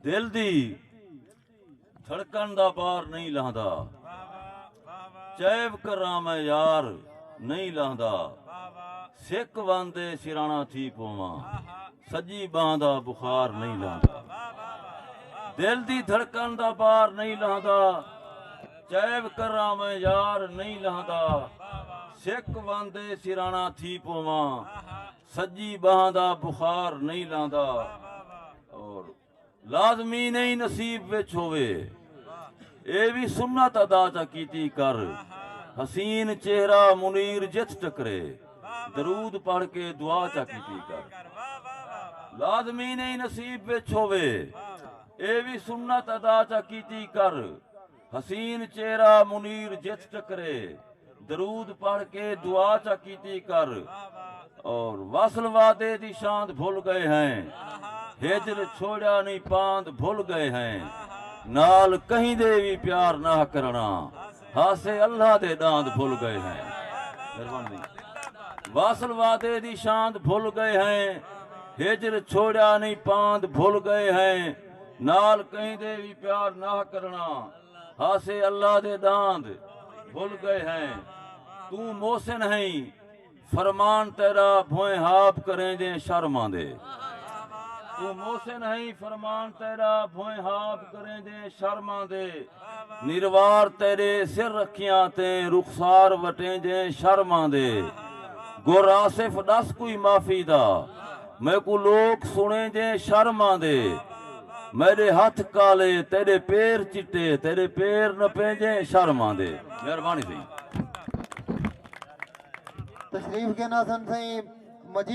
دل دی دھڑکن دا بار نہیں لہندا چیب کراں میں یار نہیں لہندا سک واندے سرانا تھی پوواں سجی باں دا بخار نہیں لہندا دل دی دھڑکن دا بار نہیں لہندا چیب کراں میں یار نہیں لہندا سک واندے سرانا تھی پوواں سجی بہاں دا بخار نئیں لاندا اور لازمی نئیں نصیب وچ ہووے اے وی سنت ادا چا کیتی کر حسین چہرہ منیر جتھ ٹکرے درود پڑھ کے دعا چا کیتی کر لازمی نئیں نصیب وچ ہووے اے وی سنت ادا چا کیتی کر حسین چہرہ منیر جتھ ٹکرے درود پڑھ کے دعا چا کیتی کر اور وصل وعدے دی شاند بھل گئے ہیں ہجر چھوڑیا نی پاند بھل گئے ہیں نال کہیں دے وی پیار نہ کرنا ہاسے اللہ دے ڈاند بھل گئے ہیں مہربانی وصل وعدے دی شاند بھل گئے ہیں ہجر چھوڑیا نی پاند بھل گئے ہیں نال کہیں دے وی پیار ناہ کرنا ہاسے اللہ دے ڈاند بھل گئے ہیں توں محسن ہئیں فرمان تیرا بھوئیں ہاب کریں جیں شرم آندے توں محسن ہئیں فرمان تیرا بھوئیں ہاب کریں جیں شرم آندے نروار تیݙے سر رکھیاں تیں رخسار وٹینجیں شرم آندے گر آصف ݙس کوئی معافی دا میکوں لوک سݨینجیں شرم آندے میݙے ہتھ کالے تیݙے پیر چٹے تیݙے پیر نپینجیں شرم آندے مہربانی سئیں۔ تشریف گھن آسن سئیں مجید۔